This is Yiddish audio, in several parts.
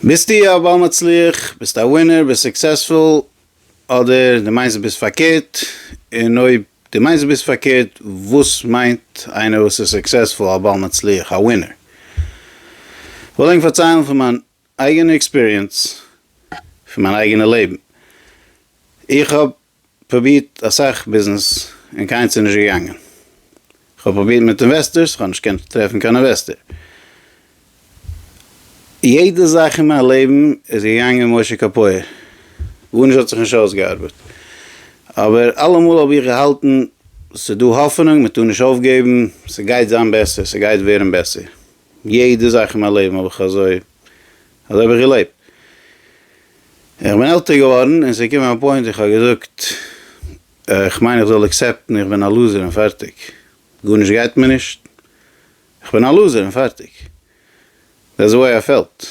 ביסטו א בעל מצליח, ביסט א ווינער, ביסט סוקסעספול, אדער דו מיינסט דו ביסט פארקערט, און אויב דו מיינסט דו ביסט פארקערט, וואס מיינט איינער וואס איז סוקסעספול, א בעל מצליח, א ווינער? כ'וועל ענק פארציילן פון מיין אייגענע עקספיריענס, פון מיין אייגענע לעבן. איך האב פרובירט אסאך ביזנעס און קיינס איז נישט געגאנגען, כ'האב פרובירט מיט אינוועסטערס, כ'האב נישט געקענט טרעפן קיין אינוועסטער, יעדע זאך אין מיין לעבן איז געגאנגען משה קאפויער, גארנישט האט זיך נישט אויסגעארבעט, אבער אלעמאל האב איך געהאלטן ס'איז דא האפענונג, מ'טאר נישט אויפגעבן, ס'גייט זיין בעסער, ס'גייט ווערן בעסער. יעדע זאך אין מיין לעבן האב איך אזוי אזוי האב איך געלעבט. איך בין עלטער געווארן און ס'איז געקומען א פוינט איך האב געזאגט איך מיין איך זאל עקסעפטן איך בין א לוזער און פארטיג. גארנישט גייט מיר נישט. איך בין א לוזער און פארטיג. דעטס די וועי איי פעלט.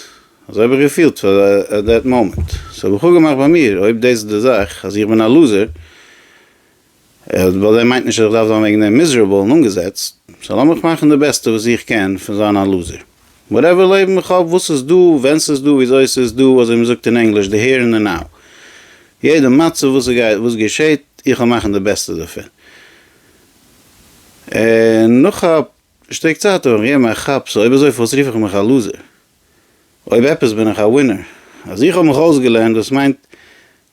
אזוי האב איך געפילט פאר עט דעט מאמענט. סאו האב איך אפגעמאכט ביי מיר אויב דאס איז די זאך אז איך בין א לוזער ווייל דער מיינט נישט אז איך דארף זיין וועגן דעם מיזערעבל און אנגעזעצט, סאו לאמיך מאכן די בעסטע וואס איך קען פון זיין א לוזער. וואטעווער לעבן איך האב, וואס ס'איז דא, ווען ס'איז דא, וויאזוי ס'איז דא, אזוי מ'זאגט אין ענגליש די העיר און די נאו. יעדע מצב וואס גייט, וואס געשעהט, איך וועל מאכן די בעסטע דערפון. און נאך א שטיק צייט וועל איך געבן א כאפ, סאו אויב אזוי פארוואס רוף איך מיך א לוזער? אויב עפעס בין איך א ווינער אז איך האב מיך אויסגעלערנט וואס מיינט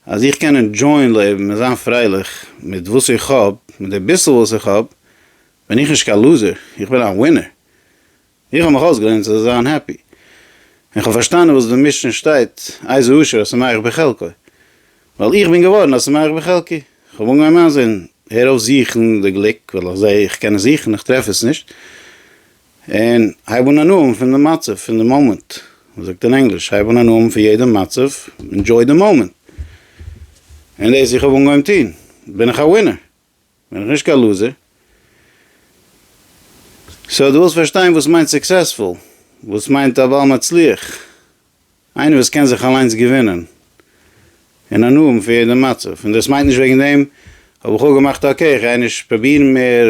אז איך קען ענדזשויען לעבן און זיין פרייליך מיט וואס איך האב, מיט די ביסל וואס איך האב, בין איך נישט קיין לוזער, איך בין א ווינער. איך האב מיך אויסגעלערנט צו זיין העפי. און איך האב פארשטאנען וואס די משנה שטייט איזה עושר השמח בחלקו. ווייל איך בין געווארן א שמח בחלקי. איך האב אנגעהויבן איינזען, הער אויף זוכן די גליק, ווייל איך זעה איך קען עס זוכן, איך טרעף עס נישט. און הייב אן הנאה פון די מצב, פון די מאמענט. ווי מ'זאגט אין ענגליש, הייב אן הנאה פון יעדע מצב, ענדזשוי די מאמענט. און דאס איך האב אנגעהויבן טון, בין איך א ווינער, בין איך נישט קיין לוזער. סאו דו ווילסט פארשטיין וואס מיינט סוקסעספול, וואס מיינט א בעל מצליח. איינער וואס קען זיך אליינס געווינען און הנאה פון יעדע מצב, און דאס מיינט נישט וועגן דעם האב איך אפגעמאכט אקעי איך גיי נישט פראבירן מער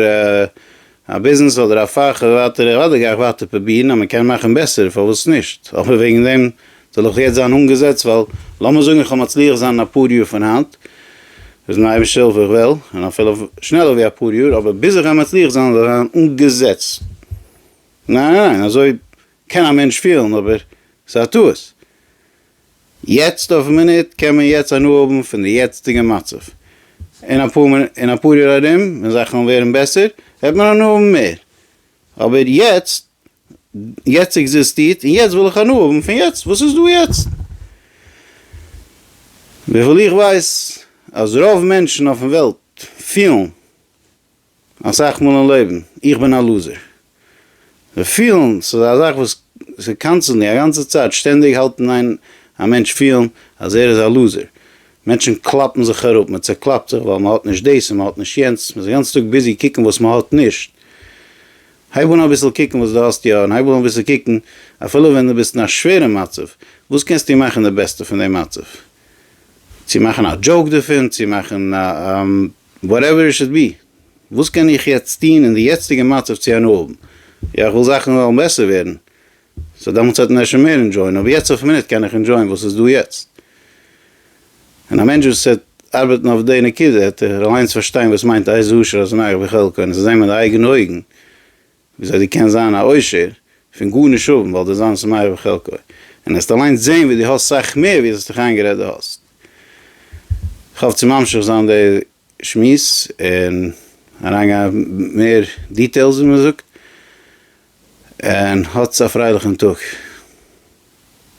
א ביזנעס אדער א פאך אדער ווייטער, אוודאי גיי איך ווייטער פראבירן אז מען קען מאכן בעסער פארוואס נישט, אבער וועגן דעם זאל איך יעצט זיין אנגעזעצט ווייל לאמיר זאגן איך וועל מצליח זיין אין אפאר יאר פון היינט, וואס מיט די אייבערשטער הילף איך וועל, און אפילו שנעלער ווי אפאר יאר, אבער ביז איך גיי מצליח זיין זאל איך זיין אנגעזעצט? ניין ניין ניין אזוי קען א מענטש פילן אבער ס'איז א טעות. יעצט אויפן מינוט קען מען יעצט הנאה האבן פון די יעצטיגע מצב. אין אפאר יאר ארום ווען זאכן וועלן ווערן בעסער וועט מען הנאה האבן מער. אבער יעצט, יעצט עקזיסטירט און יעצט וויל איך הנאה האבן פון יעצט וואס איז דא יעצט. וויפיל איך ווייס אז רוב מענטשן אויפן וועלט פילן. אסאך מאל אין לעבן, איך בין א לוזער. זיך פילן ס'איז א זאך וואס ס'איז קאנסטענטלי, א גאנצע צייט, שטענדיג האלט אין איין א מענטש פילן אז ער איז א לוזער. מענטשן קלאפן זיך אראפ, מען צעקלאפט זיך ווייל מען האט נישט דאס און מען האט נישט יענץ, מען איז די גאנצע טאג ביזי קוקן וואס מען האט נישט. הייב אן אביסל קוקן וואס דו האסט יא, און הייב אן אביסל קוקן אפילו ווען דו ביסט אין א שווערע מצב, וואס קענסטו מאכן די בעסטע פון די מצב? צו מאכן א דזשאוק דערפון, צו מאכן א. וואטעווער איט שוד בי. וואס קען איך יעצט טון אין די יעצטיגע מצב צו הנאה האבן? יא איך וויל זאכן וועלן בעסער ווערן, סאו דעמאלטס וועט מען אפשר מער אינדזשויען, אבער יעצט אויפן מינוט קען איך אינדזשויען וואס איז דא יעצט. און א מענטש וואס וועט ארבעטן אויף די נקודה וועט ער אליינס פארשטיין וואס מיינט איזה עושר אזניו וחלקו און עס זען מיט די אייגענע אויגן. וויאזוי דו קענסט זיין א עושר פון גארנישט האבן ווייל דו זיינס מה יבא חלקו, און העסט אליינס זעהן ווי דו האסט סאך מער ווי עס האסט דיך איינגערעדט דו האסט. איך האף צו ממשיך זיין די שמועס און אריינגיין מער דיטעילס ווי מ'זאגט, און האטס א פרייליכן טאג.